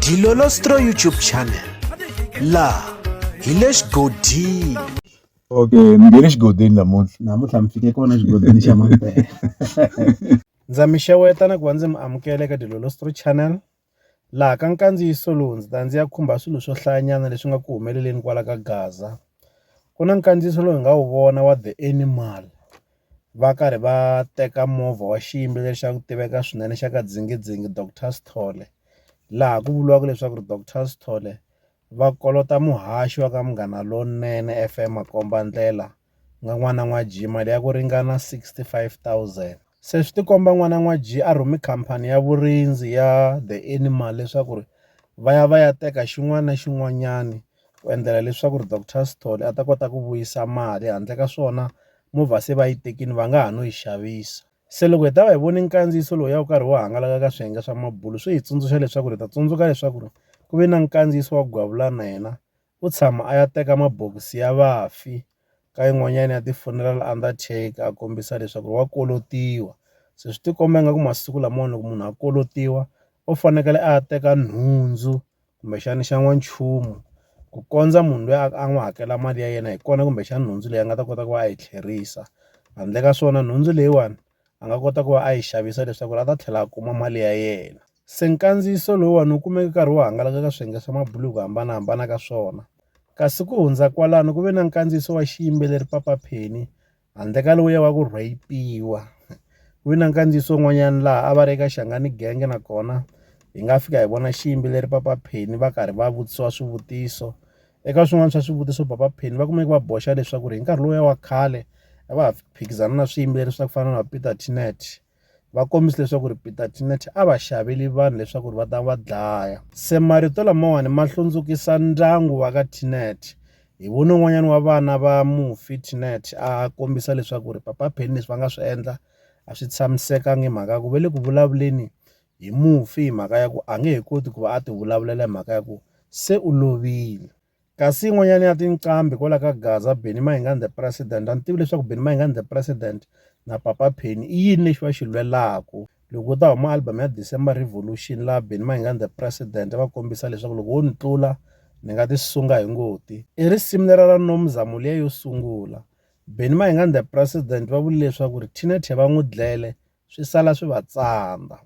Dilolostro YouTube channel laha hi le xigodini okay mi nge le xigodini namuntlha namuntlha mi fike kona xigodini xa mampela ndza mi xeweta na ku va ndzi mi amukela eka dilolostro channel laha ka nkandziyiso lowu ndzi ta ndzi ya khumba swilo swo hlayanyana leswi nga ku humeleleni kwala ka gaza ku na nkandziyiso lowu hi nga wu vona wa the animal va karhi va teka movha wa xiyimo lexi a ku tiveka swinene xa ka dzingindzingi Doctor Sithole laha ku vuriwaka leswaku ri Doctor Sithole va kolota muhaxi wa ka Munghana Lonene F_M makombandlela ku nga n'wana n'wa Jim mali ya ku ringana sixty five thousand se swi ti komba n'wana n'wa Jim a rhume khampani ya vurindzi ya The Animal leswaku ri va ya va ya teka xin'wana na xin'wanyana. ku endlela leswaku ri doctor Sithole a ta kota ku vuyisa mali handle ka swona movha se va yi tekini va nga ha no yi xavisa se loko hi ta va hi voni nkandziyiso lowu ya wu karhi wu hangalaka ka swiyenge swa mabulo swi hi tsundzuxa leswaku ri ta tsundzuka leswaku ri ku ve na nkandziyiso wa gwavula na yena u tshama a ya teka mabokisi ya vafi ka yin'wanyana ya ti-funeral undertaker a kombisa leswaku wa kolotiwa se swi tikomba ingaku masiku lamawani loko munhu a kolotiwa u fanekele a ya teka nhundzu kumbexana xa n'wanchumu ku kondza munhu luya a n'wi hakela mali ya yena hi kona kumbexana nhundzu leyi a nga ta kota ku va a yi tlherisa handle ka swona nhundzu leyiwani a nga kota ku va a yi xavisa leswaku a ta tlhela a kuma mali ya yena se nkandziyiso lowuwani wu kumeke nkarhi wo hangalaka ka swiyenge swa mabulo hi ku hambanahambana ka swona kasi ku hundza kwalano ku ve na nkandziyiso wa xiyimbeleri Papa Penny. Handle ka lowuya wa ku rheyipiwa, ku vi na nkandziyiso wun'wanyana laha a va ri eka Xangani Gang nakona hi nga fika hi vona xiyimbeleri Papa Penny va karhi va vutisiwa swivutiso. Eka swin'wana swa swivutiso Papa Penny va kumeke va boxa leswaku hi nkarhi lowuya wa khale a va ha phikizana na swiyimbeleri swa ku fana na Peter Tinette. va kombise leswaku ri Peter Tinet a va xaveli vanhu leswaku ri va ta va dlaya se marito lamawani ma hlundzukisa ndyangu wa ka Tinet hi vona un'wanyana wa vana va mufi Tinet a kombisa leswaku ri papa Penny leswi va nga swi endla a swi tshamisekanga hi mhaka ya ku va le ku vulavuleni hi mufi hi mhaka ya ku a nge he koti ku va a ti vulavulela hi mhaka ya ku se u lovile Kasi yin'wanyana ya tinqambi kwala ka Gaza, Benny Mayengani the President. A ni tivi leswaku Benny Mayengani the President na Papa Penny i yini lexi va xi lwelaku. Loko u ta huma album ya December Revolution laha Benny Mayengani the President va kombisa leswaku loko wo ni tlula ni nga ti sunga hi ngoti. I risimu lera ra Nomzamo liya yo sungula. Benny Mayengani the President va vule leswaku ri Tina Tye va n'wi dlele swi sala swi va tsandza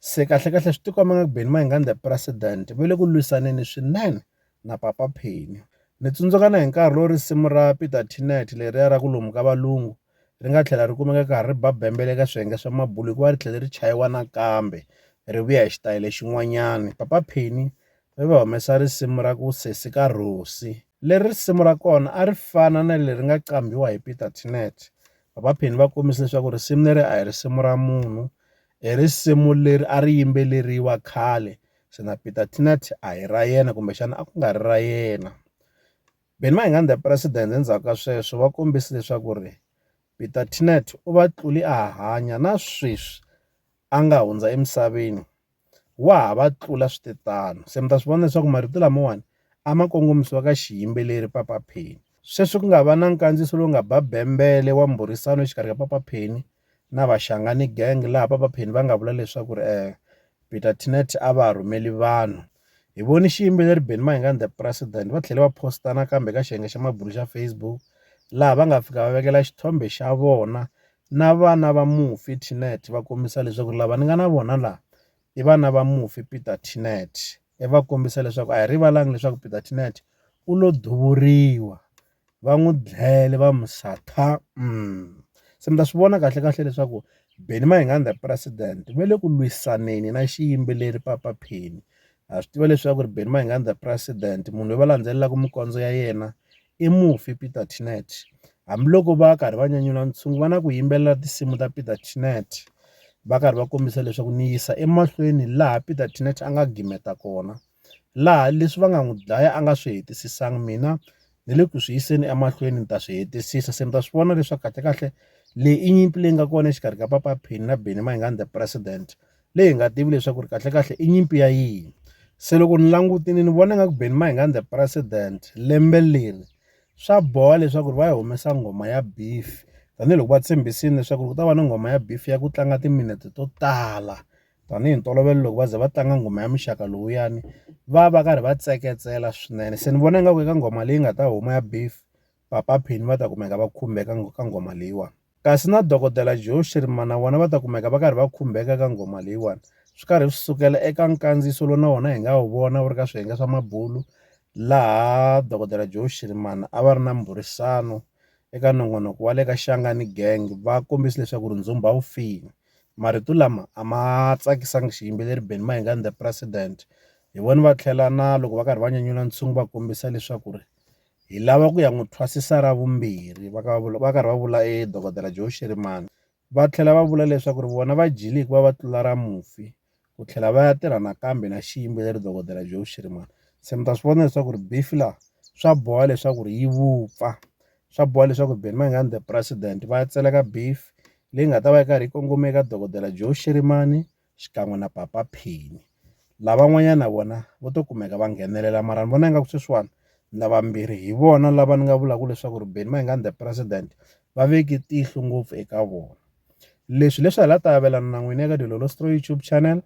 se kahle kahle swi tikomba nga ku Benny Mayengani the president va le ku lwisaneni swinene na Papa Penny ni tsundzuka na hi nkarhi lowu risimu ra Peter Tinet leriya ra ku lomu ka valungu ri nga tlhela ri kumeka ka ha ri ba bembele ka swiyenge swa mabulo hikuva ri tlhele ri chayiwa nakambe ri vuya hi xitayele xin'wanyana Papa Penny ri va humesa risimu ra ku Sesi ka Rhosi, leri risimu ra kona a ri fana na leri nga qambhiwa hi Peter Tinnett. Vapheni va kombise leswaku risimu leri a hi risimu ra munhu, i risimu leri a ri yimbeleriwa khale se na Peter Tinnett a hi ra yena kumbexana a ku nga ri ra yena. Benny Mayengani the President endzhaku ka sweswo va kombise leswaku ri Peter Tinnett u va tluli a hanya na sweswi. a nga hundza emisaveni wa ha va tlula swi te tano se mi ta swi vona leswaku marito lamawani a ma kongomisiwa ka xiyimbeleri papa pheni sweswi ku nga va na nkandziyiso lowu nga ba bembele wa mbhurisano exikarhi ka papa pheni na vaxangani gang laha papa pheni va nga vula leswaku ri um peter tinet a va rhumeli vanhu hi voni xiyimbeleri beni mahingani the president va tlhele va posta nakambe ka xiyenge xa mabulu xa facebook laha va nga fika va vekela xithombe xa vona na vana va mufi Tinette va kombisa leswaku lava ni nga na vona la i vana va mufi Peter Tinette i va kombisa leswaku a hi rivalanga leswaku Peter Tinette u lo duvuriwa va n'wi dlele va mu satha se mi ta swi vona kahle kahle leswaku Benny Mayengani the president va le ku lwisaneni na xiyimbeleri Papa Penny ha swi tiva leswaku Benny Mayengani the president munhu loyi va landzelelaka minkondzo ya yena i mufi Peter Tinette. Hambiloko va karhi va nyanyula ntshungu va na ku yimbelela tinsimu ta Peter Tinette va karhi va kombisa leswaku ni yisa emahlweni laha Peter Tinette a nga gimeta kona laha leswi va nga n'wi dlaya a nga swi hetisisanga mina ni le ku swi yiseni emahlweni ni ta swi hetisisa se mi ta swi vona leswaku kahlekahle leyi i nyimpi leyi nga kona exikarhi ka Papa Penny na Benny Mayengani the president. leyi hi nga tivi leswaku ri kahlekahle i nyimpi ya yini. Se loko ni langutile ni vona nga ku Benny Mayengani the president lembe leri swa boha leswaku ri va yi humesa nghoma ya beef tanihiloko va tshembisile leswaku ku ta va na nghoma ya beef ya ku tlanga timinete to tala tanihi ntolovelo loko va ze va tlanga nghoma ya muxaka lowuyani va va karhi va tseketsela swinene se ni vona nga ku eka nghoma leyi nga ta huma ya beef. Papa Penny va ta kumeka va khumbeka ka nghoma leyiwani. Kasi na Dokodela Joe Shirimani na vona va ta kumeka va karhi va khumbeka eka nghoma leyiwani, swi karhi swi sukela eka nkandziyiso lowu na wona hi nga wu vona wu ri ka swiyenge swa mabulu laha Dokodela Joe Shirimani a va ri na mbhurisano eka nongonoko wa le ka Shangani Gang va kombisa leswaku ri ndzhumbha wu file. Marito lama a ma tsakisanga xiyimbeleri Benny Mayengani The President, hi vona va tlhela na loko va karhi va nyanyula ntshungu va kombisa leswaku ri Hi lava ku ya n'wi thwasisa ra vumbirhi, va karhi va vula e Dokodela Joe Shirimani. Va tlhela va vula leswaku ri vona va dyile hikuva va tlula ra mufi, ku tlhela va ya tirha nakambe na xiyimbeleri Dokodela Joe Shirimani. Se mi ta swi vona leswaku ri beef laha swa boha leswaku ri yi vupfa, swa boha leswaku Benny Mayengani the president va ya tseleka beef leyi nga ta va yi karhi yi kongome eka Dokodela Joe Shirimani. xikan'we na papa Penny lavan'wanyana na vona vo to kumeka va nghenelela mara ni vona ingaku sweswiwani lava mbirhi hi vona lava ni nga vulaka leswaku ri Benny Mayengani the president va veke tihlo ngopfu eka vona leswi leswi hi la ta avelana na n'wina eka Dilolo Stroy YouTube channel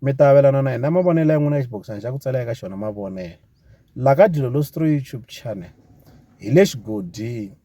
mi ta avelana na hina mavonelo ya n'wina ya xibokisana xa ku tsala eka xona mavonelo la ka Dilolo Stroy YouTube channel hi le xigodini.